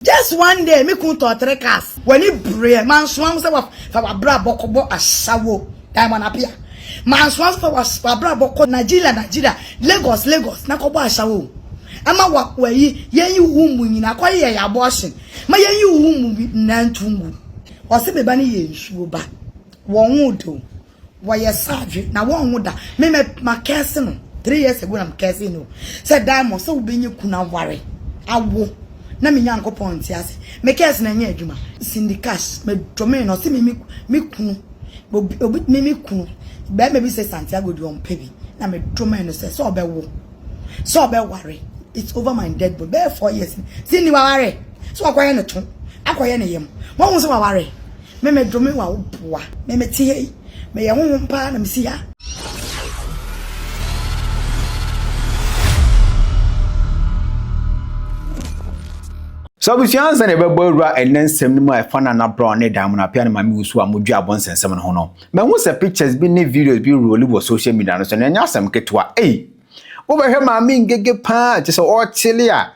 Just one day me kun tɔɔ three cars. W'ani breɛ. Mansoa ho sɛ wa fa w'abrabɔ kɔ bɔ asawo. Diamond Apia. Mansoa ho sɛ fa w'abrabɔ kɔ Nigeria Nigeria, Lagos Lagos na kɔ bɔ asawo. Ɛma wa w'ayi yɛn yi wo ho mmu nyinaa kɔ yɛ yɛ abortion ma yɛn yi wo ho mmu nyinaa ntu ngu. Ɔse me ba no yɛ nsuo ba. Wɔn wo dɛ o. Wɔyɛ saadwe na wɔnwo da. Me mɛ ma kɛɛse no three years ago na me kɛɛse no sɛ Diamond sɛ wobɛnya kun aware awo na me Nyankopɔn nte ase. Me kɛɛse no ɛnyɛ adwuma. Cindy Cash me domee no ɔse me me kunu obi me me kunu bɛrima bi sɛ Santiago deɛ ɔmpɛ bi na me domee no sɛ sɛ ɔbɛwo. sɛ ɔbɛware it's over my dead body bɛyɛ four years ni si ni waware sɛ wakɔyɛ ne to akɔyɛ ne yam wɔn sɛ waware meme dome wa wo boa meme te hei meyɛ honhom paa na mesi ha So abusua nsa na ɛbɛbɔ awura ɛnɛ nsɛm no mu a ɛfa no anabrɛ ɔne dan mu no apea no ma me wusu a modwe abɔ nsɛnsɛm no ho no Mahu sɛ pictures bi ne videos bi reroli wɔ social media no so na ɛnyɛ asɛm ketewa ei! Wobɛhwɛ maame Ngege paa te sɛ ɔrekyele a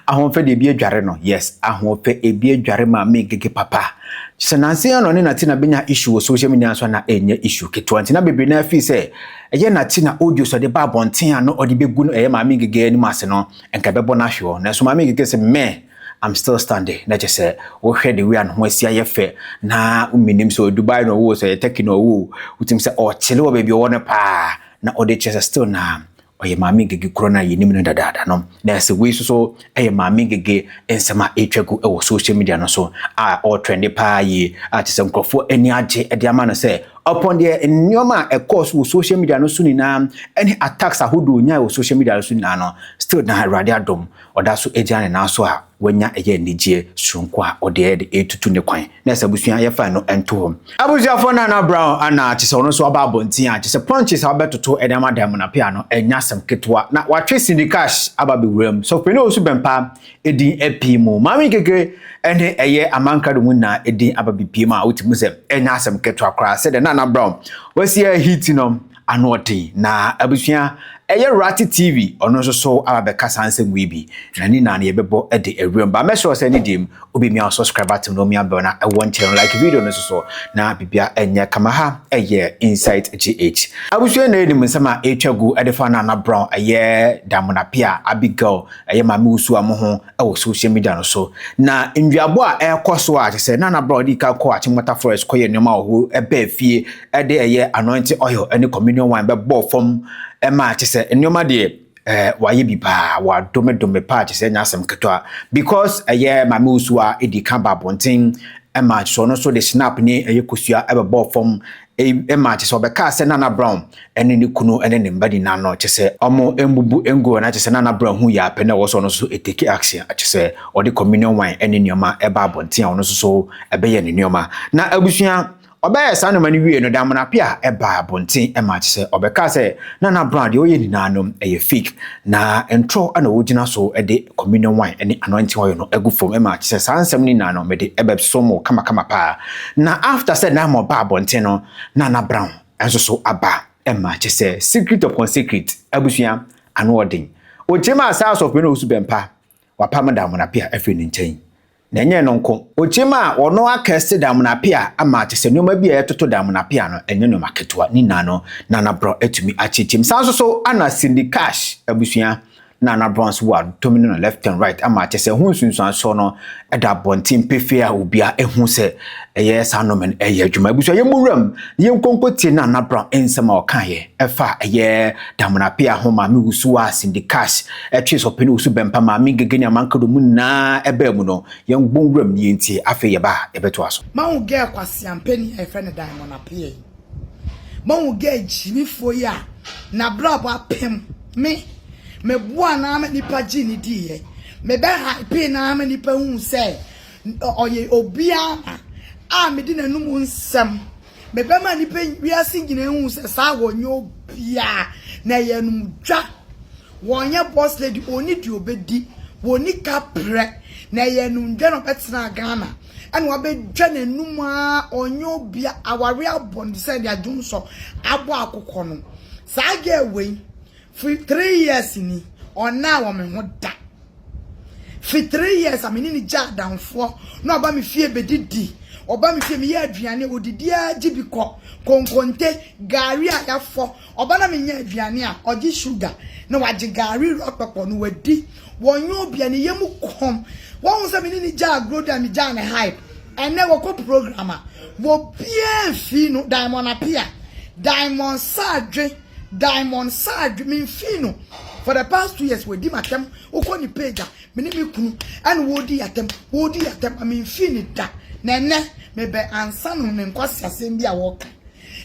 Ahoɔfɛ de ebi adware no, yes, Ahoɔfɛ ebi adware maame Ngege papa. Sɛ nanse yɛn na ɔne Nati na benya issue wɔ social media nso a na ɛnyɛ issue ketewa nti na bebree na afii sɛ ɛyɛ Nati na audios ɔde ba abɔnten a na ɔde begu no ɛyɛ maame Ngege anim ase no nka ɛbɛbɔ no ahwe hɔ. Nanso maame Ngege se meh, I'm still standing na kyɛ sɛ wohwɛ the way a ne ho asi ayɛ fɛ na menim sɛ ɔyɛ Dubai na ɔwɔ sɛ ɔyɛ Turkey na ɔwɔ wotim sɛ ɔkyele wɔ baabi ɔwɔ no paa na ɔde kyerɛ sɛ still na ɔyɛ maame ngege korɔ no a yɛnim no dadaada no na ɛsɛ wei nso so ɛyɛ maame ngege nsɛm a ɛretwa gu wɔ social media no so a ɔretrɛnde paa yie a kyɛ sɛ nkurɔfoɔ ani agye de ama no sɛ ɔpɔn deɛ nneɛma a ɛkɔɔ so wɔ social media no so nyinaa ɛne attacks ahodoɔ nyae wɔ social media no so nyinaa no still na awurade adom Ɔda so gyina ne nan so a wanya ɛyɛ anigyeɛ soronko a ɔde ɛyɛ de retutu ne kwan na ɛsɛ abusua yɛfa no nto hɔ. Abusuafoɔ Nana Brown ana kyɛ sɛ ɔno nso aba abɔnten a kyɛ sɛ punches a ɔbɛtoto ɛde ama dan mu na pea no ɛnyɛ asɛm ketewa na watwe Cindy Cash aba abɛwura mu. Sɔfopanin Owusu Bɛmpaa ɛdin apue mu. Maame Nkekire ɛne ɛyɛ Aman Krado mu nyinaa ɛdin aba bɛpue mu a wote mu sɛ ɛnyɛ asɛm ketewa koraa sɛdeɛ Nana Brown wasi ɛyɛ hit no. Anoɔden na abusua ɛyɛ Rati TV ɔno nso so aba bɛka saa nsɛm wei bi na ne nyinaa no yɛbɛbɔ de awuram ba mɛsrɛ sɛ ne deɛ mu wobɛmia wo subscribe button na omia bɛl na ɛwɔ nkyɛn no like video no nso so na bibia ɛnyɛ kama ha ɛyɛ Insight GH abusua na yɛnim nsɛm a ɛtwa gu ɛde fa Nana Brown ɛyɛ Damona Pia Abigail ɛyɛ Maame Usu a mo ho wɔ social media no so. Na nnuabo a ɛrekɔ so a te sɛ Nana Brown dii kan kɔɔ Achimota Forest kɔyɛ nneɛma wɔ hɔ ɛbaa fie ɛde ɛyɛ anointing oil ne communion wine bɛbɔɔ fam ɛma te sɛ nneɛma deɛ ɛɛ wayɛ bi paa wadome dome paa te sɛ nyɛ asɛm ketewa because ɛyɛ maame wusu a edi kan ba abɔnten ɛma te sɛ ɔno nso de snap ne ɛyɛ kosua ɛbɛbɔɔ fam Eyi maa kyerɛ sɛ wɔbɛkaa sɛ Nana Brown ne ne kunu ne ne mma nyinaa no, kyerɛ sɛ wɔammubu nguan, na kyerɛ sɛ Nana Brown huu yare pa no a ɛwɔ so a ɔno nso take action, kyerɛ sɛ ɔde communion wine ne nneɛma ba abɔnten a ɔno nso so bɛyɛɛ ne nneɛma. Na abusua, ɔbɛyɛɛ saa nneɛma no wiei no, Damena Appiah baa abɔnten ma kyerɛ sɛ ɔbɛkaa sɛ Nana Brown deɛ ɔyɛ nyinaa no yɛ fake. Na ntoro na wogyina so de communion wine ne anointing oil no agu fam ma kyerɛ sɛ saa nsɛm no nyinaa no mede ɛbɛsom wo kamakama paa. Na after sɛ Naaman baa abɔnten no na na Brown nso so aba ma kyerɛ sɛ secret upon secret abusua ano ɔden. Ogyina maa saa asɔfo yi na ɔsu bɛmpa wapam Daamona Pia afiri ne nkyɛn. Na ɛnyɛ ɛno nko, okyim a wɔno akɛse damena pea ama kyɛ sɛ nneɛma bi a ɛtoto damena pea no, ɛnyɛ nneɛma ketewa, ne nyinaa no Nana Brown atumi akyekyem. Saa nso so ana Cindy Cash abusua Nana Brown nso wɔ adotomi no no left and right ama kyɛ sɛ ɛho nsunsuansoɔ no da abɔnten pefee a obia ehu sɛ ɛyɛ saa nnome no ɛyɛ adwuma. Abusua yɛmmɔ wuram na yɛnkonko tie Nana Brown nsɛm a ɔkaeɛ ɛfa ɛyɛ damena pea ho maame wusu a Cindy Cash Ɛtwee sɛ ɔpɛ ne osu bɛmpa maa me Ngege ne Amankah dɔm nyinaa baa mu no, yɛn bɔn wuram nie nti afei yɛba a yɛbɛtoa so. Mahu girl kwaseaa mpanin a yɛfrɛ no Diamond Appiah yi. Mahu girl gyimifoɔ yi a n'abrabɔ apem me. Meboaa no ara ma nnipa gyee no diiɛ. Mebɛ hypee no ara ma nnipa huu sɛ ɔyɛ obi ara na a mede n'anom nsɛm. Mebɛma nnipa wiase nyina ahu sɛ saa wɔnyɛ obiaa na ɛyɛ anumdwa. Wɔnyɛ boss lady, ɔnni deɛ ɔbɛdi, wɔnni ka prɛ, na ɛyɛ anumdwa na ɔbɛtena Ghana ɛna wabɛdwa n'anum aa ɔnyɛ obia, awareɛ abɔ no te sɛ deɛ dwonsɔ abɔ akokɔ no. Saa girl wei Firi three years ni, ɔnnaa wɔ me ho da. Firi three years a me ne no gyaa adamfoɔ, na ɔba me fie bɛdidi. Ɔba me fie, meyɛ aduane, ɔdidi ara gye bi kɔ. Konkonte, gari a yɛafɔ. Ɔba na menyɛ aduane a, ɔgye sugar, na wagye gari wura ɔkpɛkpɔ no wadi. Wɔnyɛ obia, ne yam kɔm. Woahu sɛ me ne no gyaa agorɔ di a, megyaa no hype. Ɛnnɛ, wɔkɔ program a, obiara mfii no, Diamond Appiah, Diamond Sadwe. Diamond Sarge me nfii no for the past two years wadi m'atɛm wokɔ ne page a me ne me kunu ɛna wɔredi atɛm wɔredi atɛm a me nfii ne da na ɛnɛ me bɛ ansa no ne nkwasi asɛm bi a wɔka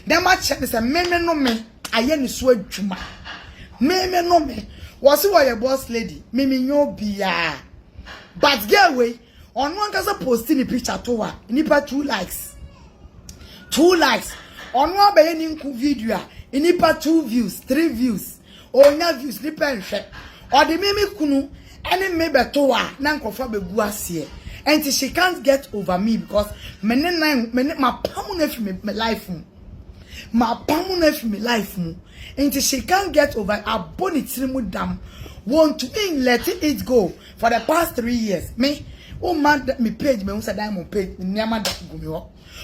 na ma kyerɛ ne sɛ me me no me ayɛ ne so adwuma me me no me wɔsi wɔyɛ boss lady me me nyɛ obiara but girl wei Ɔno ankasa posti ne picture to a nnipa two likes two likes ɔno abɛyɛ ne nku video a nnipa two views three views ɔnya views nnipa nhwɛ ɔde me me kunu ɛne me bɛto a na nkurɔfoɔ abɛgu aseɛ ɛnti she can't get over me because me ne nan me ne mapam no afiri me me life mu mapam no afiri me life mu ɛnti she can't get over abɔ ne tiri mu dam wɔntumi let it go. For the past three years me wo mma me page me hu sɛ diamond page me nneɛma da gu me hɔ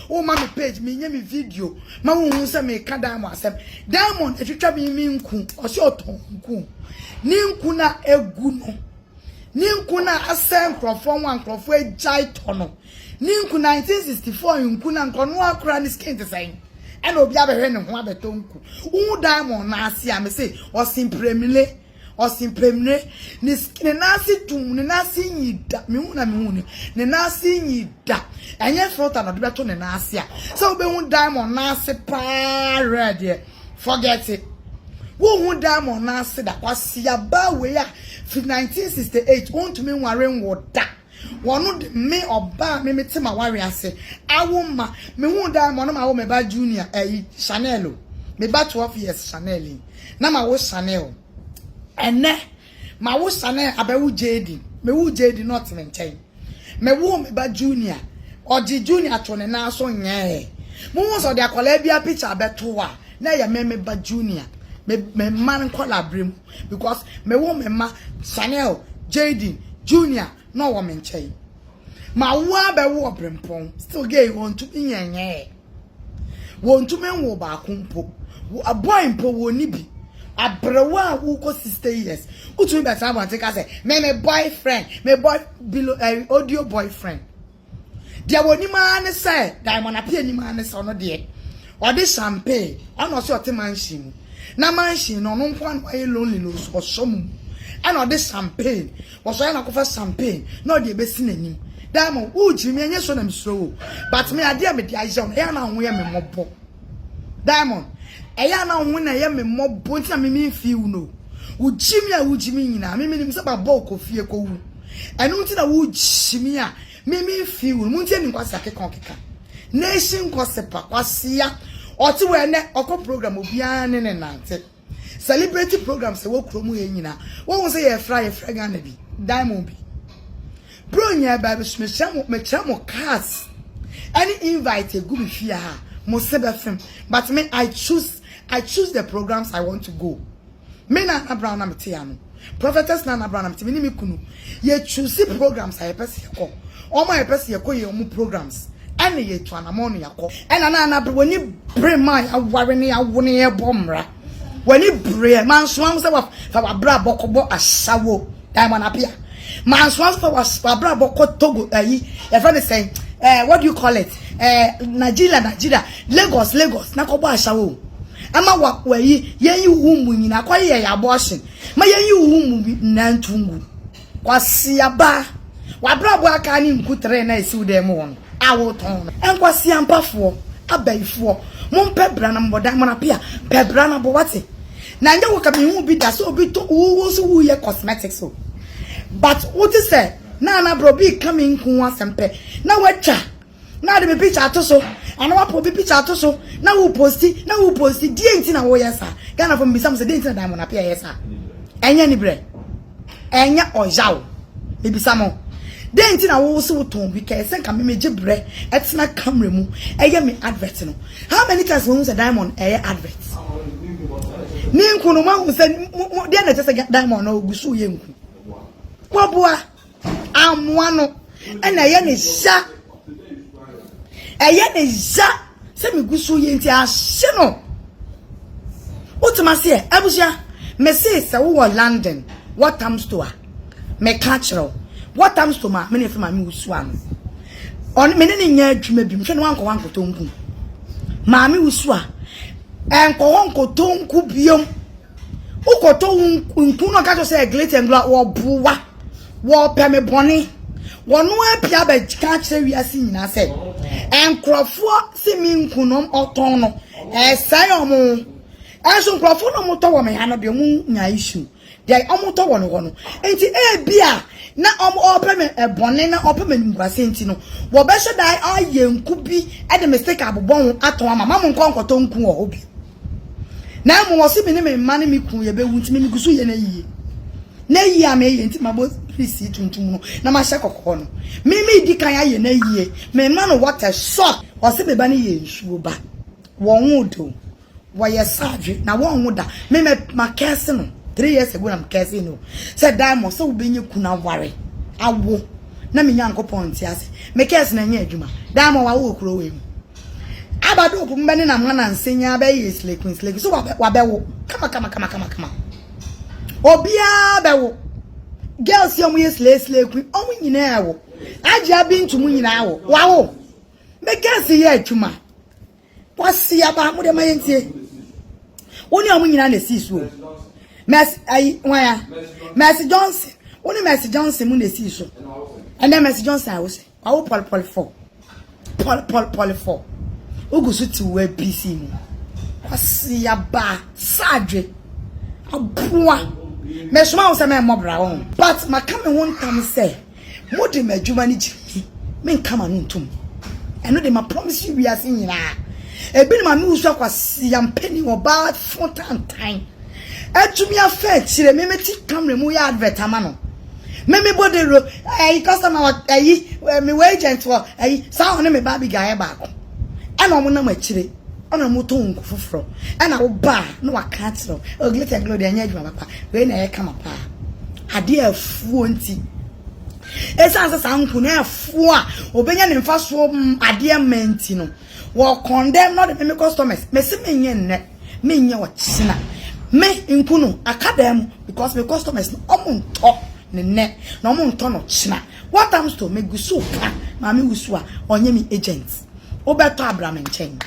wo mma me page me nyɛ me video ma wo hu sɛ me ka diamond asɛm diamond etwitwa me me nku ɔsɛ ɔtɔn nku ne nku na egu no ne nku na asɛ nkurɔfoɔ ho a nkurɔfoɔ agyae tɔ no ne nku 1964 nku na nkɔno akora ne skin te sɛn ɛna obi abɛhwɛ ne ho abɛtɔ nku wo diamond na ase a me se ɔse mpremile Ɔse Pemire, ne skin, ne nan ase dum, ne nan ase nyi da. Mehu na mehu no, ne nan ase nyi da. Ɛnyɛ filter na ɔde bɛto ne nan ase a, sɛ wobɛhu diamond nan ase paa rare deɛ, forget it. Wonhu diamond nan ase da. Kwaseaba wei a, firi 1968, wontumi nware nwo da. Wɔno de me ɔbaa me mete m'aware ase awo mma mehuu daa ma ɔno mawo me ba Junior ɛyi Chanel o me ba 12 years Chanel yi na mawo Chanel ɛnɛ mawo Chanel abɛwo Jaden mewoo Jaden na ɔte me nkyɛn mewoo me ba Junior ɔgye Junior to ne nan so nyɛɛ muhu sɛ ɔde akwadaa biara picture abɛto a na ɛyɛ me me ba Junior me me mma nkwadaa bere mu because mewɔ me mma, Chanel, Jayden, Junior na ɔwɔ me nkyɛn. Mawo ara bɛwo ɔberempɔn, still gay wɔntumi nyɛ nyɛɛ. Wɔntumi nwo baako mpo. Boy mpo wɔnni bi. Aberewa a wokɔ 60 years, wotumi bɛtena abɔnten ka sɛ, me me boyfriend, me boy, below, eh, audio boyfriend. Deɛ wɔnim ara ne sɛ Diamond Appiah nim ara ne sɛ ɔno deɛ ɔde champagne ɛna ɔse ɔte mansion mu na mansion no ɔno nko ara na wayɛ lonely no so ɔsɔ mu ɛna ɔde champagne wɔsɔ ɛna akɔfa champagne na ɔde ɛbɛsi n'anim Diamond wogyiri me ɛnyɛ so na mesuro wo but me adeɛ a mede ayɛ wo ɛyɛ na wo ho yɛ me mmɔbɔ Diamond ɛyɛ na wo ho na ɛyɛ me mmɔbɔ nti na me me feel no wogyi me a wogyi me nyinaa me menim sɛ babɔ wokɔ fie kɔwu Ɛno nti na wo gyimi a me me nfi wo no mo ntie ni nkwasi akeka ɔkeka nation gossip a kwasia ɔte wɔ ɛnɛ ɔkɔ program obiara ne ne nante celebrity programs ɛwɔ kuro mu yɛ nyina wɔn sɛ yɛ fra yɛ fra Ghana bi diamond bi bro nyɛ baabi so mekyerɛ mo mekyerɛ mo cars ɛne invite egu me fie ha mo se bɛfem but me I choose I choose the programs I want to go. Me Nana Brown na mete ano. Prophetess Nana Brown na mete. Me ne me kunu, yɛ choose programs a yɛpɛ sɛ yɛkɔ. Wɔn a yɛpɛ sɛ yɛkɔ yɛ wɔn programs na yɛatu anammɔn na yɛakɔ. Ɛna na Nana Brown ani bere me a yɛaware na yɛawo na yɛrebɔ mmara. W'ani bereɛ. Mansoa wo sɛ fa w'abrabɔ kɔbɔ asawo. Diamond Appiah. Mansoa nso sɛ was- wabrabɔ kɔ Togo ayi yɛfrɛ no sɛn eh, what do you call it eh, Nigeria Nigeria Lagos Lagos na kɔbɔ ahyawo o. Ɛma wa wayi yɛnyi wo mu nyinaa kɔ yɛ yɛ abortion ma yɛnyi wo mu bi nyinaa ntu ngu. Kwasiaba wabrabɔ a aka ne nku tere na ɛsi wo dan mu hɔ no a wotɔn no. Nkwasiampafoɔ, abayifoɔ, mompɛ bra na mobɔ Diamond Appiah pɛ bra na bɔ wate. Na nyɛ wo ka me hu bi da sɛ obi to wo wo so wo yɛ cosmetics o but wo te sɛ na ana bro bi ka me nko ho asɛm pɛ na watwa na de me picture ato so ana wapo obi picture ato so na wo posti na wo posti die nti na wo yɛ sa Ghana fo mbisa mo sɛ die nti na diamond apia yɛ sa ɛnyɛ ni brɛ Ɛnyɛ ɔyaw. Mebisa mo, dɛn nti na wo wo se wo tɔn bi kɛɛ sɛ nka me megye brɛ ɛtena camera mu ɛyɛ me advert no? How many times moahu sɛ diamond ɛyɛ advert? Ne nku no moahu sɛ deɛ na ɛkyɛ sɛ diamond no ɔgu so yɛ nku? Waboa, ammoa no ɛna ɛyɛ ne sha. ɛyɛ ne ya sɛ megu so yɛ nti ahye no wotumi ase ɛ abusua mese sɛ wowɔ london wɔtam sto a meka kyerɛ wo wɔtam sto ma mene fɛ ma me wusu ano ɔne mene ne nyɛ adwuma bi mehwɛ ne wankɔ wankɔtɔ nku maame wusu a ɛnkɔ hɔ nkɔtɔ nku biom wokɔtɔ nku no ɔka kyerɛ sɛ glitengla wɔboa Wɔpɛ me bɔne. Wɔno ara pia bɛka akyerɛ wiase nyinaa sɛ nkurɔfoɔ se me nku no ɔtɔn no ɛsɛe ɔmo. Ɛnso nkurɔfoɔ no ɔmo tɔ wɔ me ha no deɛ ɔmo nya issue deɛ ɔmo tɔ wɔ no hɔ no. Nti ebi a na ɔmo ɔpɛ me bɔne na ɔpɛ me animguaseɛ nti no wɔbɛhyɛ da ayɛ nku bi de me sika abobɔ ho atɔn ama ma mo nkɔ nkɔtɔ nku wɔ hɔ bio. Na mmom ɔse me ne me mma ne me kunu yɛbɛwu nti me megu so yɛ n'ayie. N'ayie a meyɛ nti mabɔ pirisii tuntum no na mahyɛ kɔkɔɔ no. Me medi kan ayɛ n'ayie, mema no water shock. Ɔse me ba no yɛ nsuo ba, wɔnwoo da o, wɔyɛ surgery na wɔnwo da. Me mɛ ma curse no, three years ago na me curse no sɛ Diamond sɛ wobɛnya kunu aware, awo na me Nyankopɔn nte ase. Me curse no ɛnyɛɛ adwuma. Diamond wawo wɔ kuro wei mu. Aba do opumu bɛ nenam hɔn ansa nyinara bɛyɛ yeslekunslekun so wɔabɛ wɔabɛwo kamakamakamakama obiara bɛwo girls yi a wɔyɛ sleslekun wɔn nyinaa wo Ajia Bintu mu nyinaa wo wawo me girls yɛ atwuma wɔse aba mo de ma yɛntie wo ne wɔn nyinaa na ɛsii so o Mercy ayi wɔn a Mercy Johnson wo ne Mercy Johnson mu na ɛsii so ɛnɛ Mercy Johnson a wo sɛ Wawo pɔlepɔlefɔ, pɔlepɔlepɔlefɔ, wogu so te w'APC mu. Kwasiaba Sadwe, aboa, mesoma wo sɛ mɛmmɔ bra wɔ ho. But maka me ho ntam sɛ mo de m'adwuma no gyina mi, menka m'ano ntom. Ɛno de ma promise you wiase nyinaa. Ebinom a me wusua Kwasia mpanin ɔbaa fo tantan. Atumi afa akyire me me te camera mu yɛ advert ama no me me bɔ dawuro ɛyi customer wɔ ɛyi me wɔ agent wɔ ɛyi saa wɔn ne me ba Abigail yɛ baako ɛna wɔn nam akyire ɛna wɔn tɔn nku foforɔ ɛna wo ba na waka akyerɛ wo o glitter and glow deɛ ɛnyɛ adwuma papa wei na ɛyɛ kama paa adeɛ afuo nti ɛsan sɛ saa nku na ɛfoɔ a obɛnya ne mfa soɔ adeɛ mma nti no Wɔkɔn dɛ na ɔde me me customers mesi menyɛ nnɛ menyɛ ɔkyena me nku no aka dan mu because me customers no ɔmo ntɔ ne nnɛ na ɔmo ntɔ no ɔkyena what am to me gu so ka maame wusu a ɔnyɛ me agent wobɛtɔ abra me nkyɛn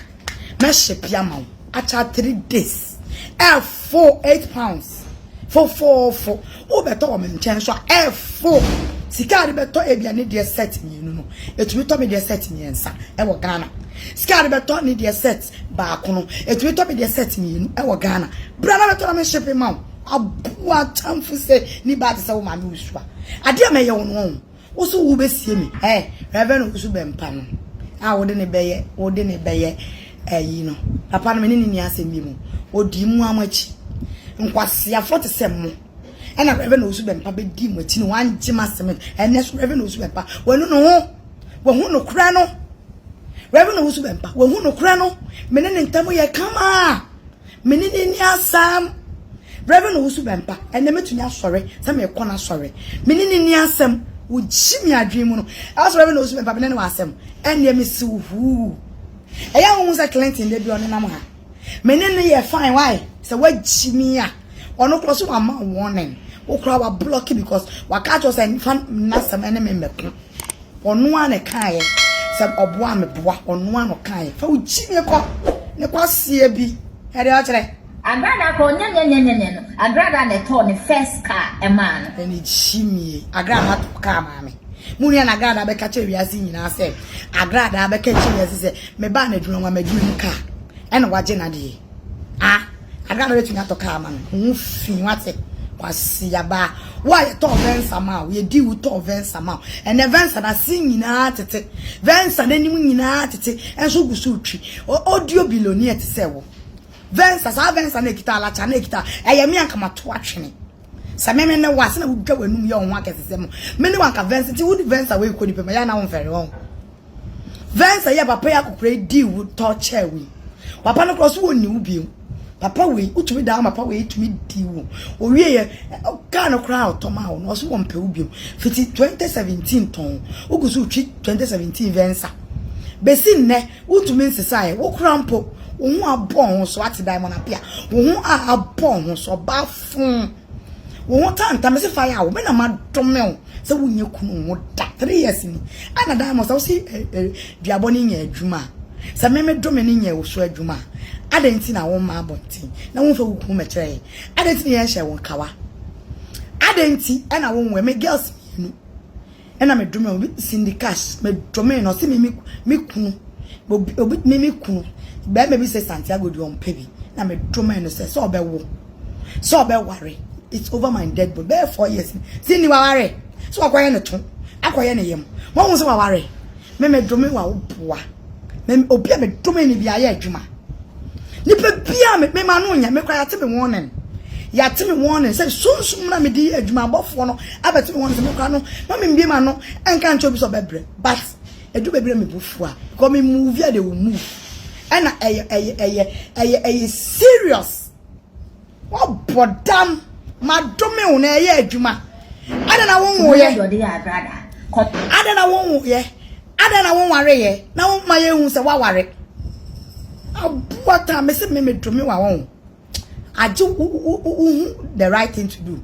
mɛhyɛ pia ma wo akyɛ three days ɛfo eight pounds fofoofo Wobɛtɔ wɔ me nkyɛn nso a, ɛfo. Sika a yɛde bɛtɔ ebia ne deɛ set mmienu no, ɛtumi tɔ me deɛ set mmiɛnsa wɔ Ghana. Sika a yɛde bɛtɔ ne deɛ set baako no, ɛtumi tɔ me deɛ set mmienu wɔ Ghana. Bra na bɛtɔ na me shipping ma wo. Aboa atamfo sɛ ni baa te sɛ wo maame wɔ su a. Adeɛ a mɛyɛ wo no, ɔn. Wo so wo bɛ sie mi eh Reverend wo so bɛ mpa no a wo de ne bɛ yɛ wo de ne bɛ yɛ eh yi no papa no me ne ne ni asɛm bi mu o di mu amu akyi nkwasiafo te sɛ mo ɛna Reverend wo so bɛ mpa bɛ di mu akyi no wan gye ma sɛm ɛnɛ so Reverend wo so bɛ mpa wanu no ho wa hu no kura no Reverend wo so bɛ mpa wa hu no kura no me ne ne ntamu yɛ kama Me ne no anni asɛm. Reverend Owusu-Bempah, ɛnnɛ mɛtumi asɔre sɛ merekɔ n'asɔre. Me ne no anni asɛm. Wogye me adwene mu no. Ɛwɔ sɛ Reverend Owusu-Bempah me ne no wɔ asɛm. Ɛnneɛ mese wo huu. Ɛyɛ a wohu sɛ Clinton da bi ɔnenam ha. Me ne no yɛ fine why? Sɛ wagye me a, ɔno koraa so wamma wo warning. Wo koraa wablɔke because waka akyerɛ wo sɛ mfa n'asɛm ne me mmɛko. Ɔno ara na ɛkaeɛ sɛ ɔboa a meboa, ɔno ara na ɔkaeɛ. Fa wo gyimie kɔ ne kwaseɛ bi ɛde akyerɛ. Agrada kɔ nyɛnyɛnyɛnyɛnyɛ no Agrada na ɛtɔɔ ne first car ɛmaa no. Ɛne gyimie. Agrada atɔ car maa me. Mo nua na Agrada bɛka kyerɛ wiase nyinaa sɛ Agrada bɛka kyerɛ wiase sɛ mebaa n'adwuma mu a m'adwuma mu car ɛna wagye n'adeɛ. Ah! Adɛn na na watumi atɔ kaa ama no? Wo ho fi, wate? Kwasia ba, wo a yɛtɔɔ Venza ma wo, yɛdii wo tɔɔ Venza ma wo. Ɛnnɛ Venza n'ase nyinaa tete, Venza n'anim nyinaa tete, nso wogu so retwi. Ɔdio billionaire te sɛ wo. Venza, saa Venza na ekita alakya na ekita, ɛyɛ me anka mato atwene. Sɛ me me ne wo a, sɛ na wodwa w'anum yɛ wo ho akɛsesɛm. Me ne wo anka Venza, nti wode Venza wei kɔ nipa mu a, ɛyɛ a na womfɛre, ɔho. Vɛnsa yi a papa yi akokora yi dii wo tɔ kyɛɛ wo yi, papa no koraa so wɔnni wo bio. Papa wei, wotumi daa papa wei tumi di wo. Owie yɛ, kaa no koraa a ɔtɔ maa wo no, ɔso wɔmpɛ wo bio. Fiti 2017 tɔn, wogu so retwi 2017 Vɛnsa. Besi nnɛ, wotumi nsesaeɛ, wo koraa mpo, wo ho abɔ wo ho so, ate Diamond Appiah, wo ho a abɔ wo ho so, ɔbaa foo. Wo ho ta nta mese fa yaw me na ma dome wo sɛ wo nyɛ kunu ho da 3 years ni ana dan mo sɛ wo si duabɔ ne nyɛ adwuma sɛ me me dome ne nyɛ wo so adwuma adɛn ti na wo ma abɔnten na wo fa wo kunu mɛkyerɛ yɛ adɛn ti na yɛn hyɛ wo nkawa adɛn ti ɛna wo nwɛ me girls mienu Ɛna me domee obi Cindy Cash me domee no ɔse me me me kunu obi obi me me kunu bɛrima bi sɛ Santiago deɛ ɔmpɛ bi na me domee no sɛ sɛ ɔbɛwo sɛ ɔbɛware it's over my dead body bɛyɛ four years Cindy waware sɛ wakɔyɛ ne to akɔyɛ ne yam wɔn ho sɛ waware me me dome wa wo boa. Me obi a me dome ne bi ayɛ adwuma. Nipa bi a me me ma no nyɛ me kora yɛate me wɔnen. Yɛate me wɔnen sɛ sunsum na mede yɛ adwuma abɔfoɔ no abɛte me wɔnen sɛ me kora no ma me mbie ma no ɛnka nkyɛ obi sɛ ɔbɛbrɛ but ɛdu baabi na me bu fo a because me move a they will move ɛna ɛyɛ ɛyɛ ɛyɛ ɛyɛ ɛyɛ serious. Wɔbɔ dam, madome wo na ɛyɛ adwuma. Adɛn na wonwoeɛ? Adɛn na wonwoeɛ? Adɛn na wonwareeɛ? Na woma yɛhu sɛ woaware. Aboa ta me sɛ me medome wa wɔn. Agye wo hu the right thing to do.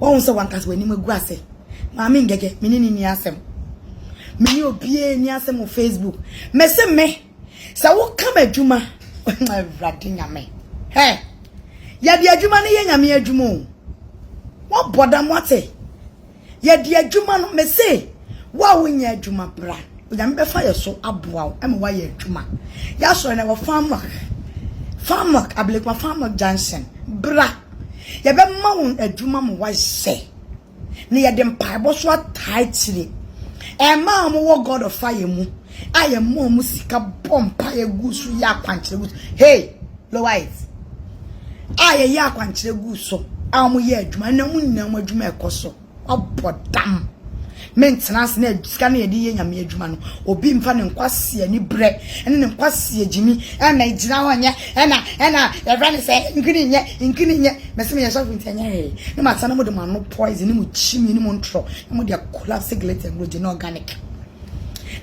Wahu sɛ wankasa w'anim agu ase. Maame ngɛgɛ, me ne ne ni asɛm. Me ne obiara ni asɛm wɔ Facebook. Mese me, sɛ woka m'adwuma, awurade nyame. Hɛ, yɛde adwuma no yɛ nyame adwuma o. Wɔbɔ dam wate. Yɛde adwuma no, mese, wo a wonyɛ adwuma, bra. Onyame bɛfa yɛ so aboa wo ma woayɛ adwuma. Y'asɔre no ɛwɔ Farmwork, Farmwork, Ablekuma Farmwork Junction. Bra, yɛbɛma wo adwuma ma woayɛ. Na yɛde mpaebɔ so ataa akyire. Ɛmaa wɔn wɔ God of Fire mu a yɛma wɔn sika bɔ mpaeɛ gu so yɛ akwankyerɛ gu so. Hey! Loaids a yɛyɛ akwankyerɛ guu so a wɔyɛ adwuma ɛna mu nyinaa mu adwuma ɛkɔ so wabɔ dam mentena ase na sika no yɛde yɛ nyame adwuma no obi mfa ne nkwasi ani brɛ ɛne ne nkwasi agyimi ɛna gyina hɔ nyɛ ɛna ɛna ɛfrɛ ne sɛ nkini nyɛ nkini nyɛ mɛsɛ meyɛ sɔfo nti ɛnyɛ hwee ne masa no mu de mano poison ne mu kyimi ne mu ntorɔ ne mu de akɔla siglet ɛnuro gye ne organic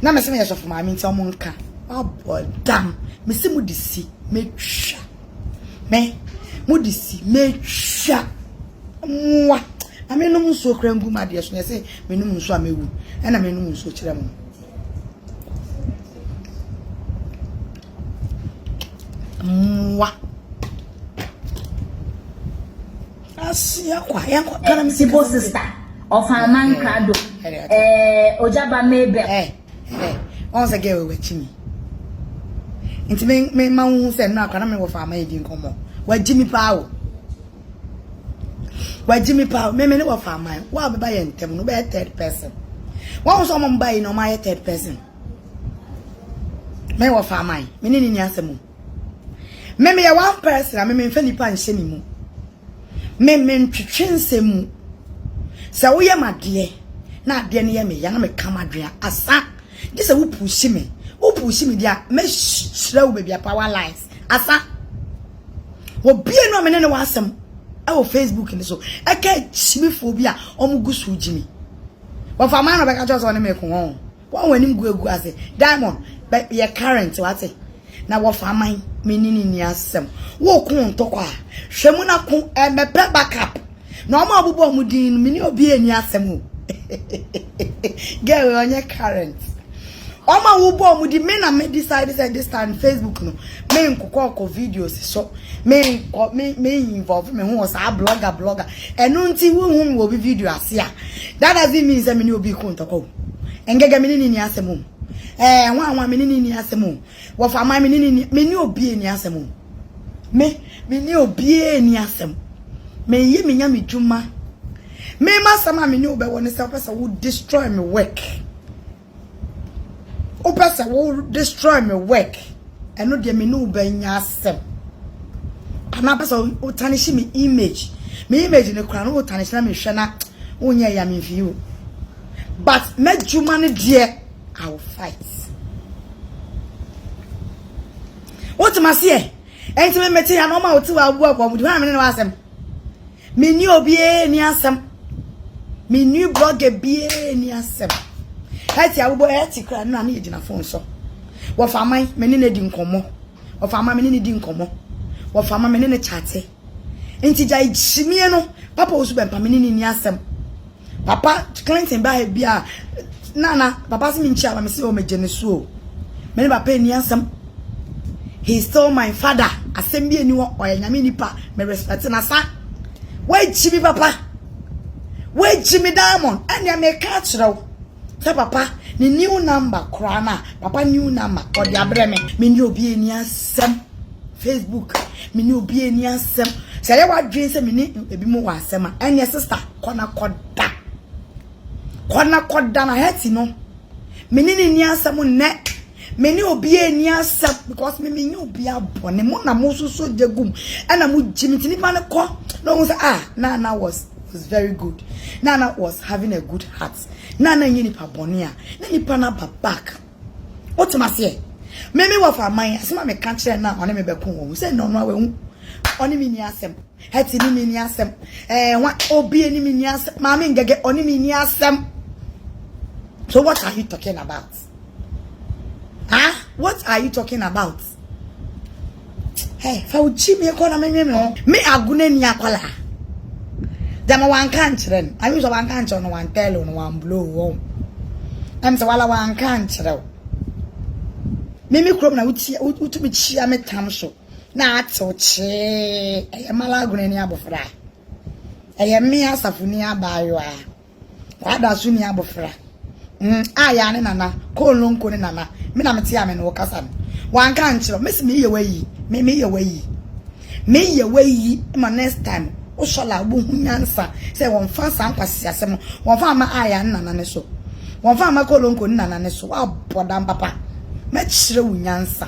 na mɛsɛ meyɛ sɔfo maame nti ɔmo nka Wabɔ dam. Me se mo de si me twa. Me mo de si me twa. Mwa. Na me nom nsuo kra ngu ma deɛ so na se me nom nsuo a me wu. Ɛna me nom nsuo kyerɛ mo. Mwa. Asia kwa. Yan kwa. Kana me se. Sibo sister. Ofa man krado. Eh, ojaba mebe. Eh. Hɛ, wahu sɛ girl wei wagyi me. Nti me me ma wohu sɛ nnora kora na me wɔ fa ama yɛdi nkɔmmɔ. Wagyi me paa o. Wagyi me paa o. Me me ne wɔ fa ama yɛn. Wo a bɛba yɛn ntam no bɛyɛ third person. Wahu sɛ ɔmom ba yi na ɔma ayɛ third person. Me wɔ fa ama yɛn. Me ne ne ni asɛm o. Me me yɛ one person a me me mfa nipa nhyɛ me mu. Me me ntwetwe nsɛm mu. Sɛ wo yɛ m'adeɛ na adeɛ no yɛ me ya na me ka m'adwene a asa gye sɛ wo puusi me wo puusi me deɛ a mɛ hyerɛ wo baby apa wa lines asa wɔ bie no a me ne ne wɔ asɛm ɛwɔ Facebook ne so ɛka akyimifoɔ bi a wɔn gu so gyimi wɔfa maa na ɔbɛka kyɛw sɛ ɔne me ko wɔn. Wɔn wɔn anim gu agu ase. Diamond, bɛ yɛ current wate. Na wɔfa aman, me ne ne nni asɛm. Wo ko ntɔkwa a, hwɛ mu na ko ɛ, mɛpɛ back up. Na wɔn a wɔbobɔ wɔn din no, me ne obiara nni asɛm o. Girl wei ɔnyɛ current. Wɔn a wobɔ wɔn din, me na me decide sɛ this time Facebook no, me nkokɔ kɔ videos so. Me nkɔ, me, me involve me ho wɔ saa blogger blogger. Ɛno nti wo hu me wɔ obi video ase a that doesn't mean sɛ me ne obi ko ntɔkwa o. Ngɛgɛ me ne no nni asɛm o. Ɛɛ Hwanhwa me ne no nni asɛm o. Wɔfaman me ne no nni me ne obi nni asɛm o. Me me ne obiara nni asɛm. Meyɛ me Nyame dwuma. Me m'asɛm a me ne wo bɛwɔ ne sɛ wopɛ sɛ wo destroy me work. Wopɛ sɛ wo destroy me work, ɛno deɛ me ne wo bɛnya asɛm. Anaa pɛ sɛ wo tarnish me image. Me image no kora no wo tarnish na mehwɛ na wonyɛ ya me mfii o. But m'adwuma no deɛ, I will fight. Wote maseɛ? Ɛnti me mete ya na ɔma wote wɔ abu akɔ mu. Di hɔ a me ne no asɛm. Me ne obiara ni asɛm. Me ne blogger biara ni asɛm. Ɛti awobɔ ɛti kura no na ne gyina phone so. Wɔfa man me ne ne di nkɔmmɔ. Wɔfa man me ne ne di nkɔmmɔ. Wɔfa man me ne ne chate. Nti gya gyimie no papa osu bɛmpa me ne ne ni asɛm. Papa Clinton baa ha bia Nana, papa se menkyia ba mese o megye ne so o. Me ne papa ani asɛm. He is still my father. Asɛm bi ani hɔ ɔyɛ nyame nipa me respect na sa. Wagyi me papa. Wagyi me diamond. Ɛnea me ka kyerɛ wo. Sɛ papa ne new number koraa na papa new number ɔde abrɛ me. Me ne obi ani asɛm. Facebook, me ne obi ani asɛm. Sɛ yɛ wadwen sɛ me ne ebi mo wɔ asɛm a, ɛnyɛ sister kɔ na kɔda. Kɔ na kɔda na hɛti no. Me ne ne ni asɛm nnɛ. Me ne obi ani asɛm because me menye obi abɔ ne mo na mo soso gyegum. Ɛna mo gye me ti nipa no kɔ na ohun sɛ ah Nana was was very good. Nana was having a good heart. Nana nye nipa bɔne a na nipa no aba back. Wotem aseɛ? Me me wɔfa aman asɛm a meka kyerɛ no a ɔne me bɛko wɔ ho sɛ nnɛ ɔno a wahu ɔne me ni asɛm ɛte ne me ni asɛm ɛɛ wa obie ne me ni asɛm maame ngɛgɛ ɔne me ni asɛm so what are you talking about ah what are you talking about Hey, fa wo kyi mi kɔ na me nwe me ho. Me aguna ni akwala. Dama wanka ankyerɛ no. Ayi sɛ wanka ankyerɛ no, wan tell no, wan blow wo. Ɛm sɛ wala wanka ankyerɛ wo. Me me krom na wotia wotumi kyia me tam so. Na atew kyee. Ɛyɛ mala aguna ni abofra. Ɛyɛ me asafo ni abaayewa. W'ada so ni abofra. Mm, a ya ne nana, koolonko ne nana, me na mete a me ne wo kasa no. Wanka ankyerɛ, mesi meyɛ w'ayi, me meyɛ w'ayi. Meyɛ w'ayi ma next time wo sɔla wobɛhu nyansa sɛ wɔmfa saa nkwaseasɛm no, wɔmfa mma a ya ne nana no so, wɔmfa mma koolonko ne nana no so, woabɔ dam papa. Mɛkyerɛ wo nyansa.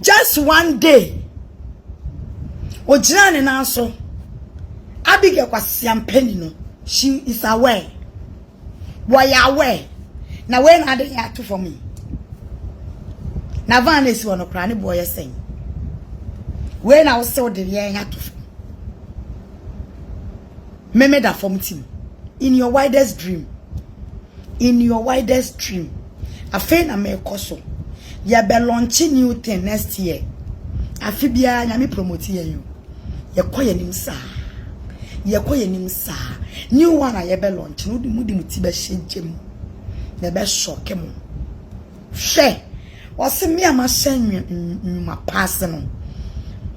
Just one day, ogyinaa ne nan so. Abigail Kwasiampani no, she is aware. Wɔyɛ aware. Na wei na ade yɛ ato fam yi. Na van na esi hɔ no koraa ne boɔ yɛ sɛn. Wei na wosɛ wode yɛn ato fam. meme da fam tim in your widest dream in your widest dream afei na mekɔ so yɛbɛ launch new thing next year afe biara nyame promote yɛn yo yɛkɔ yɛn nim saa yɛkɔ yɛn nim saa new one a yɛbɛ launch no de mu de mu ti bɛhyɛ gyem na ɛbɛ shock mo Hwɛ, ɔse, me a mahyɛ nnwuma pa ase no,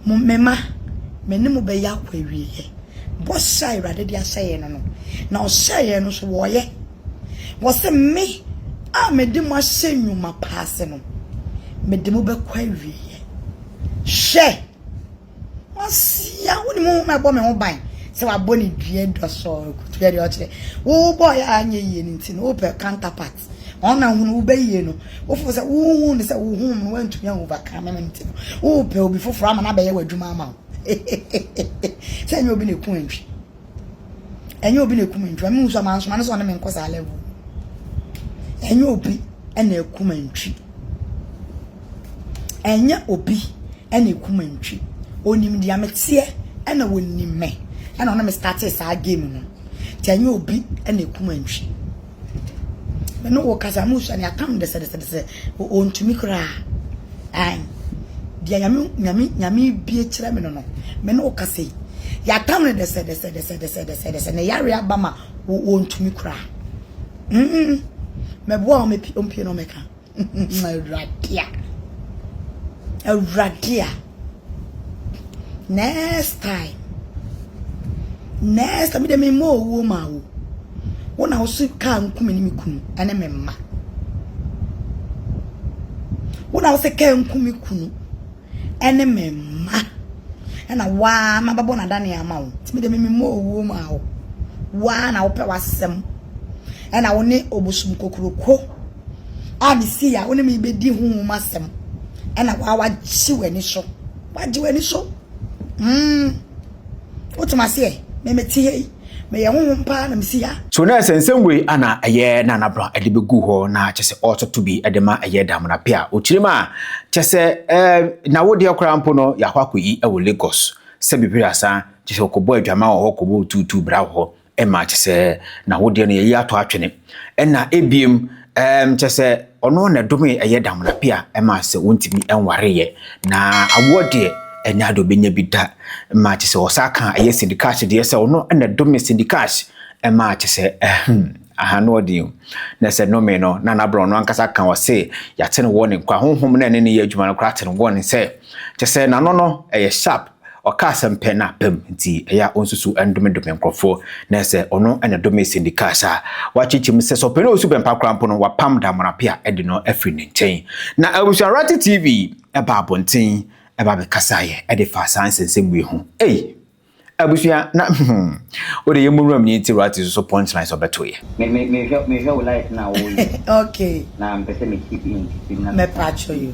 mo, me mma, me ne mo bɛyɛ akɔ awieɛ. Bɔhyɛ a Awurade de ahyɛ yɛn no no, na ɔhyɛɛ yɛn no so wɔyɛ. Ɔse, me a mede mo ahyɛ nnwuma pa ase no, mede mo bɛkɔ awieɛ. Hwɛ! Masua, wonim wo ma ɛbɔ me ho ban sɛ wabɔ ne dua dua sɔɔ kutu yɛ deɛ ɔkyerɛ wobɔɔ yɛ anyɛ yie no nti no wopɛ counterpart wɔn na hunu wobɛyie no wofo sɛ wohu ne sɛ wohu mu no woantumi a overcome no nti no wopɛ obi foforɔ ama no abɛyɛ w'adwuma ama wo sɛ nyɛ obi na ɛku antwi Ɛnyɛ obi na ekum nantwi. Ɛmu nso amansoma no sɛ ɔne me nkɔ saa level. Ɛnyɛ obi na ekum nantwi. Ɛnyɛ obi na ekum nantwi. Onim deɛ meteɛ ɛna onim me ɛna ɔne me startee saa game no. Nti ɛnyɛ obi na ekum nantwi. Me ne wo kasa mu sua ne atam dɛsɛdɛsɛdɛsɛ ɔntumi koraa. Ae. Deɛ nyame nyame nyame bie kyerɛ me no no. Me ne wo kasa yi. Yɛatam no dɛsɛdɛsɛdɛsɛdɛsɛdɛsɛ ne yare aba ma ɔntumi koraa. Mm, mɛboa wo mɛpi ɔmpie na ɔmɛka. Awurade a. Awurade a. Next time. Next time, me mma owuo ma wo. Wo na wo so kaa nkume ne me kunu ne me mma. Wo na wo so kaa nkume kunu ne me mma. Ɛna waa ma bɛbɔ n'adane ama wo. Timi de me mma owuo ma wo. Waa na wopɛ w'asɛm. Ɛna wo ne obosom kokoroko. a mesii a wo ne me bɛdi ho mu asɛm ɛna waa wagye w'ani so wagye w'ani so mm wotem aseɛ memete ha yi meyɛ honhom paa na mesi ha so na ɛsɛ nsɛm wei ana ɛyɛ na anabra ɛde bɛgu hɔ na kyɛ sɛ ɔtoto bi ɛde ma ɛyɛ damena pe a ɔkyiri ma kyɛ sɛ na wodeɛ koraa mpo no yɛakɔ akɔyi ɛwɔ Lagos sɛ bibiri asan kyɛ sɛ ɔkɔbɔ adwama wɔ hɔ kɔbɔ tuutuu bra wɔ hɔ ɛma kyɛ sɛ na wo deɛ no yɛyi ato atwene ɛna ebiem ɛm kyɛ sɛ ɔno na ɛdome ɛyɛ damena pia ɛma sɛ wontumi ɛnwareyɛ na awoɔ deɛ ɛnyɛ ade obɛnya bi da ɛma kyɛ sɛ ɔsa ka ɛyɛ sindikaahye deɛ sɛ ɔno na ɛdome sindikaahye ɛma kyɛ sɛ ɛhem aha no ɔde na sɛ nome no na n'abrɛ ɔno ankasa ka ɔse yɛate no wɔ ne nkwa honhom na ɛne ne yɛ adwuma no koraa te no wɔ ne sɛ kyɛ sɛ n'ano no ɛyɛ sharp Ɔka asɛm pɛ na pam nti, ɛyɛ a onsusuw ndomedome nkurɔfo na sɛ ɔno na ɛdome Cindy Cash a, wakyekyem. Sɛ sɛ ɔpɛ no osu pɛ mpa koraa mpo no, wapam Damona pɛ a ɛde no afiri ne nkyɛn. Na Abusua Rati TV baa abɔnten ba bɛkasaeɛ de faa saa nsɛnsɛm wei ho. Ei! Abusua, na hmm, wode yɛn mu wuram ni nti Rati nso so punchlines ɔbɛto yɛ. Me me mehwɛ mehwɛ wo life na wo yɛ okay na mpɛ sɛ me keep in keep in na me pa kyɛw you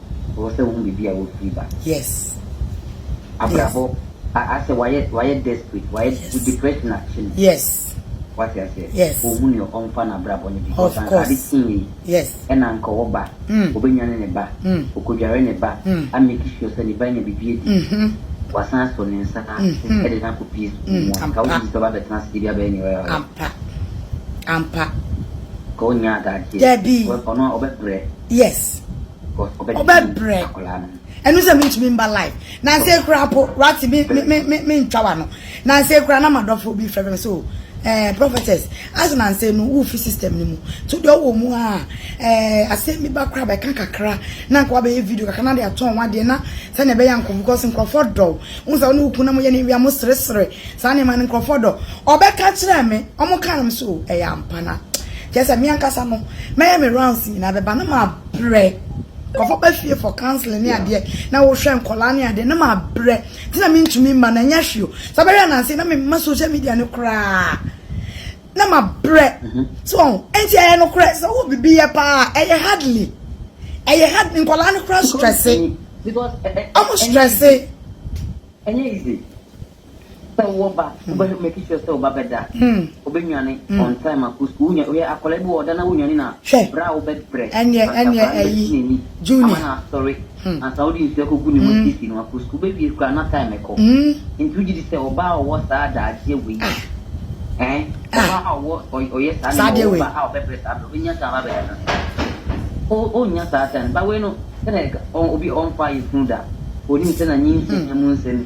Ɔwɔ sɛ wohu baabi a wofiri ba. Yes. Abrabɔ yes. asɛ wayɛ wayɛ desperate wayɛ yes. depression akye no. Yes. Wate aseɛ. Yes. Ohu ne ɔmfa no abrabɔ no bi. Of course. Ade kii yi. Yes. Ɛna nka ɔwɔ ba. Mm. Obenya ne ne ba. Mm. Okodware ne ba. Mm. Ameki sure sɛ ne ba nya biribi adi. Mm -hmm. Wasan asɔ ne nsa. Mm -hmm. Ɛde no akɔ pie sukuu mu. Mm. Nka wogye sɛ ɔba bɛtena ase de bi abɛyɛ ne ɔyɛ ɔyɛ. Ampa. Ampa. Ka onya adagyeɛ. Dabi. Ɔno ɔbɛbrɛ. yes ɔbɛbrɛ ɛno sɛ mentumi mba live nansɛ kura po wate mentwa wa no nansɛ kura na madɔfo bi frɛ me sɛ o eh, prophetess ase nansɛ no wofi system no mu to deɛ ɔwɔ mu a eh, asɛm bi ba kora bɛka kakra na nka wabɛyɛ video kakra na de atɔn wadeɛ na Sɛnea ɛbɛyɛ a nkurɔfo, because nkurɔfo dɔ wo. Wohu sɛ wo ne wo kunu na moyɛ nneɛma a, moseresere, saa nneɛma no, nkurɔfo dɔ. Ɔbɛka kyerɛɛ me, wɔkaa no, me sɛ o, ɛyɛ ampa. Na kyerɛ sɛ me ankasa no, mɛyɛ me rounds nyinaa bɛba, na mabrɛ. Nkurɔfo ba fie for counselling ne adeɛ, na wohwɛ nkwadaa ne adeɛ, na mabrɛ. Nti na mentumi mma no, ɛnyɛ hwee o. Sɛ wobɛhwɛ ananse yi, na memma social media no koraa. na ma brɛ so ɔn ɛnti ɛyɛ no korɛ sɛ wo bibi yɛ paa ɛyɛ hardly ɛyɛ hard nkɔlaa no kora strɛse ɔmo strɛse ɛnyɛ easy sɛ wowɔ ba wobɛhwɛ make sure sɛ wo ba bɛda wobɛnwane on time akɔ sukuu wonya woyɛ akɔla bi wɔ ɔda na wonwane na berɛ a wobɛbrɛ ɛnyɛ ɛnyɛ ɛyi juni ama no asɔre ansa wode nsu akɔgu ne mu asiesie no akɔ sukuu. Bɛwie koraa na time kɔ. Nti wogye di sɛ ɔbaa a ɔwɔ saa adagyeɛ wei eh, ɔbaa a ɔwɔ, ɔyɛ saa nneɛma, ɔwɔ ba a ɔbɛbrɛ saa berɛ, ɔbɛnya time abɛtena ase? O, ɔnnya saa time. But wei no, sɛdeɛ ɛka, ɔ, obi a ɔmfaa yafunu da, ɔnim sɛ na nyinsɛn mu nsɛm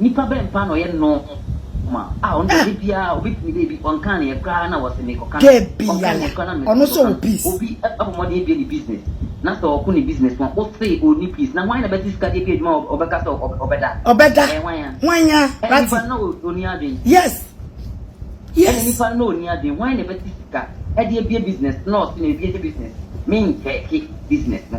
Nipa bɛn paa na ɔyɛ normal a ɔno deɛ da biara ɔbɛtumi dɛ bi ɔnkaa ne yɛ koraa na wɔse mekɔka no ɔnkaa ne yɛ koraa na mekɔka no obi abɔ mmɔden abie ne business na sɛ ɔko ne business no ose ɔni peace na hwan na bɛte sika de adi adwuma a ɔbɛka sɛ ɔbɛda ɔbɛda ɛyɛ hwan a hwan a ɛna nipa no na ɔni adwen yes yes ɛna nipa no na ɔni adwen hwan na bɛte sika ɛde abie business na ɔse na ebie ne business menkyɛke business no.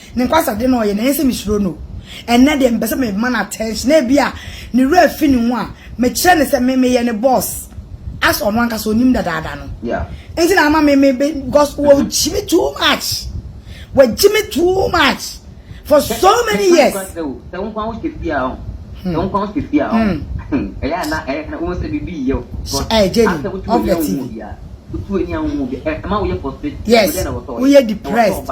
Ne nkwasade na ɔyɛ na ɛnsɛ sɛ misuro no. Ɛnnɛ deɛ mepɛ sɛ mema no attention na ebia ne werɛ afi ne ho a, mekyerɛ no sɛ me meyɛ ne boss as ɔno ankasa ɔnim dadaada no nti na ama me me be because wagyi me too much wagyi me too much for so many years. Sɛ wo nkwa wo hyɛ fie a ɔn sɛ wo nkwa wo hyɛ fie a ɔn ɛyɛ a na ɛyɛ na wohu sɛ biribi yɛ wo asɛ wotu ani a wohu obiara wotu ani a wohu obiara ɛma woyɛ frustrated yes woyɛ depressed.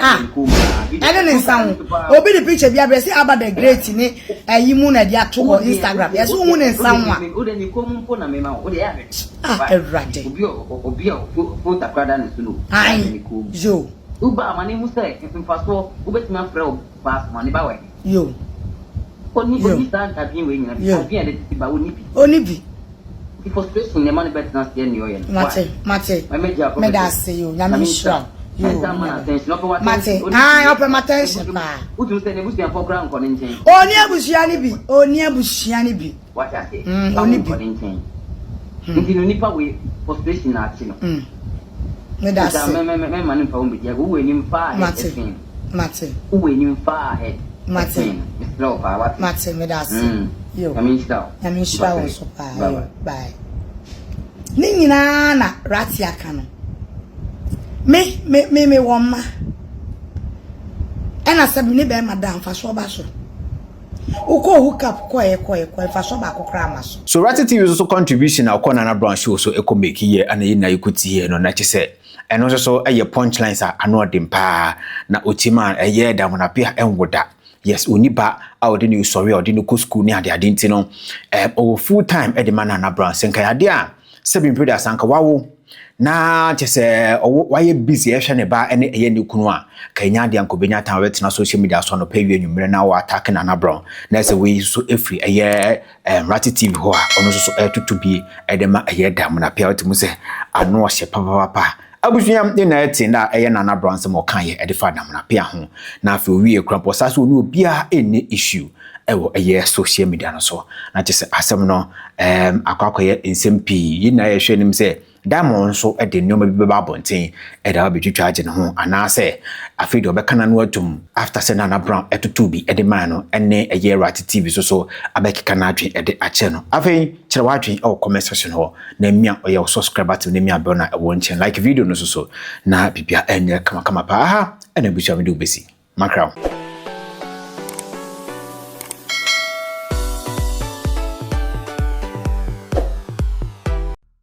ah ɛne ne nsa ho obi de picture bi abrɛ sɛ aba the great ne ɛyi mu na ɛde ato wɔ instagram yɛsɛ wohu ne nsa ho a ah awurade yo Yo. Yo. Yo. Oni bi. Mate. Mate. Meda ase yo. Nyame nhyira wo. Yo. Mate. Ae, ɔpɛ m'attention paa. Oni abusua no bi. Oni abusua no bi. Mm, oni bi. Mm. Meda ase. Mate. Mate. Wo wɔ anim faa ahead. Mate. Ɛsen no. Mesrɛ wo paa wate. Mate meda ase. Mm. Yo. Nyame nhyira wo. Nyame nhyira wo nso paa. Bye bye. Bye. Ne nyinaa na Rati aka no. Me me me me wɔ mma. Ɛna sɛ me ne bɛrima da mfasoɔ ba so. Wokɔ hookup kɔɛ kɔɛ kɔɛ mfasoɔ baako koraa ma so. So Rati TV nso so contribution a ɔkɔ Nana Brown show so ɛkɔ make yɛ ana yɛn nyinaa yɛkɔ tie yɛ no na kyesɛ Ɛno nso so yɛ punch lines a ano ɔden paa. Na otim a ɛyɛ Damonapia ɛnwo da. Yes, ɔni ba a ɔde no sɔre a ɔde no kɔ sukuu ne adeade nti no, ɛm ɔwɔ full time ɛde ma Nana Brown. Sɛ nka ɛyɛ adeɛ a sɛbi mpo da sanka wawo na kyɛ sɛ ɔwɔ wayɛ busy ɛhwɛ ne ba ɛne ɛyɛ ne kunu a, ka ɛnya adeɛ a nka ɔbɛnya time ɔbɛtena social media so anɔpa awia anwummerɛ na wɔ attack Nana Brown. Na ɛsɛ wei nso so ɛfiri ɛyɛ Ɛmmerate TV hɔ a ɔno nso so ɛtoto bi ɛde ma ɛyɛ da mu na pia wote mu sɛ ano ɔhyɛ papapapa abusua ne nyinaa ɛte na ɛyɛ na anabra nsɛm ɔka yɛ ɛde fa damuna pia ho na afei owie kura mpɔ saa so ɔne obiara ɛnni issue ɛwɔ ɛyɛ social media no so na kyɛ sɛ asɛm no ɛɛm akɔ akɔyɛ nsɛm pii yɛ nyinaa yɛhwɛ anim sɛ Diamond nso de nneɛma bi bɛba abɔnten de aba abɛtwitwa agye ne ho anaasɛ afei deɛ ɔbɛka n'ano atom after sɛ Nana Brown totoo bi de mae no ne ɛyɛ Awurate TV so so abɛkeka n'adwene de akyerɛ no. Afei kyerɛ w'adwene wɔ comment section hɔ na me a ɔyɛ wo subscriber tem ne me a bɛn na ɛwɔ nkyɛn like video no so so na biribiara ɛnyɛ kamakama paa ha ɛna abusua mede wo bɛsi makra wo.